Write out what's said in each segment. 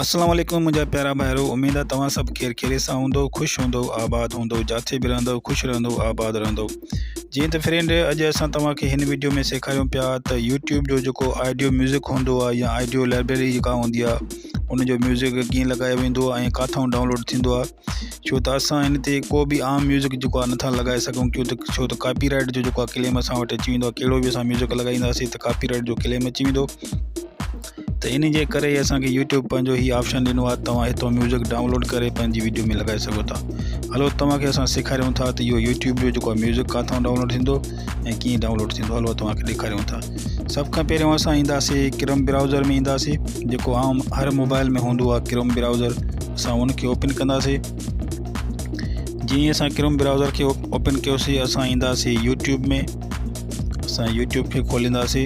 السلام عليڪم منهنجا پيارا ڀائرو اميد آ توهان سڀ خير خيريت سان هوندؤ خوش هوندؤ آباد هوندؤ جاٿي به رهندؤ خوش رهندؤ آباد رهندؤ جيئن ته فرينڊ اڄ اسان توهان کي هن وڊيو ۾ سيکاريون پيا ته يوٽيوب جو جيڪو آڊيو ميوزڪ هوندو آ يا آڊيو لائبريري جيڪا هوندي آ ان جو ميوزڪ ڪيئن لڳايو ويندو آ ۽ ڪاٿو ڊائونلوڊ ٿيندو آ ڇو ته اسان هن تي ڪو به عام ميوزڪ جيڪو آ نٿا لڳائي سگهون ڪيون ته ڇو ته ڪاپي رائيٽ جو جيڪو آ ڪليم اسان وٽ اچي ويندو آ ڪهڙو به اسان ميوزڪ لڳائينداسين ته ڪاپي رائيٽ جو ڪليم اچي ويندو ته ان جي ڪري اسان کي يوٽيوب پنهنجو هي آپشن ڏنو آهي توهان هتو ميوزڪ ڊائونلوڊ ڪري پنهنجي ويڊيو ۾ لڳائي سگهو ٿا هلو توهان کي اسان سيکاريون ٿا ته اهو يوٽيوب جو جيڪو ميوزڪ ڪاٿو ڊائونلوڊ ٿيندو ۽ ڪيئن ڊائونلوڊ ٿيندو هلو توهان کي ڏيکاريون ٿا سڀ کان پهريون اسان اينداسي ڪرم براوزر ۾ اينداسي جيڪو عام هر موبائل ۾ هوندو آهي ڪرم براوزر اسان ان کي اوپن ڪنداسي جي اسان ڪرم براوزر کي اوپن ڪيوسي اسان اينداسي يوٽيوب ۾ اسان يوٽيوب کي کولينداسي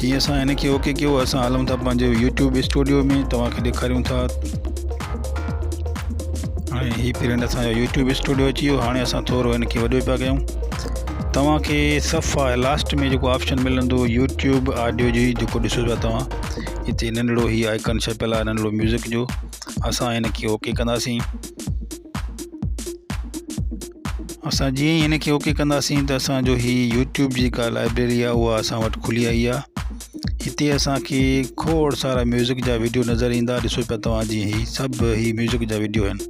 جي اسان هن کي اوڪي ڪيو اسان هلون ٿا پنهنجو يوٽيوب اسٽوڊيو ۾ توهانکي ڏيکاريون ٿا هاڻي هي پرنٽ اسانجو يوٽيوب اسٽوڊيو اچي ويو هاڻي اسان ٿورو هن کي وڏو پيا ڪيون توهانکي صفا لاسٽ ۾ جيڪو آپشن ملندو يوٽيوب آڊيو جي جيڪو ڏسو پيا توهان هتي ننڍڙو هي آئڪن ڇپيل آهي ننڍڙو ميوزڪ جو اسان هن کي اوڪي ڪنداسين اسان جيئن ئي هن کي اوڪي ڪنداسين ته اسان جو هي يوٽيوب جي ڪا لائبريري آهي اها اسان وٽ کلي آئي آهي هتي اسان کي کوڙ سارا ميوزڪ جا ويڊيو نظر ايندا ڏسو پيا توهان جي هي سڀ هي ميوزڪ جا ويڊيو آهن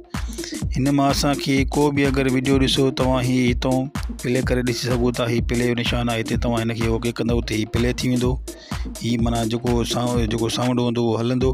هن مان اسان کي ڪو به اگر ويڊيو ڏسو توهان هي هتون پلي ڪري ڏسي سگهو ٿا هي پلي جو نشان آهي هتي توهان هن کي اوڪي ڪندو ته هي پلي ٿي ويندو هي معنيٰ جيڪو سائونڊ جيڪو سائونڊ هوندو اهو هلندو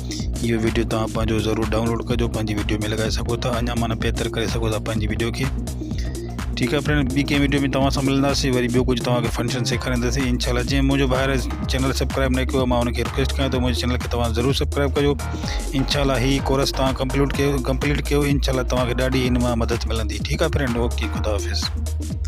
اهو وڊيو توهان پنهنجو ضرور ڊائونلوڊ ڪجو پنهنجي وڊيو ۾ لڳائي سگهو ٿا اڃا معنيٰ بهتر ڪري سگهو ٿا پنهنجي وڊيو کي ٺيڪ آهي فرينڊ ٻي ڪنهن وڊيو ۾ توهان سان ملنداسي وري ٻيو ڪجهه توهان کي فنڪشن سيکارينداسي ان شاء الله جنهن منهنجو ڀائر چينل سبسڪرائب نه ڪيو معنيٰ ان کي رڪويسٽ ڪيان ٿو منهنجي چينل کي توهان ضرور سبسڪرائب ڪجو ان شاء الله هي ڪورس توهان ڪمپليوٽ ڪيو ڪمپليٽ ڪيو ان شاء الله توهان کي ڏاڍي هن مان مدد ملندي ٺيڪ آهي فرينڊ اوڪي خدا حافظ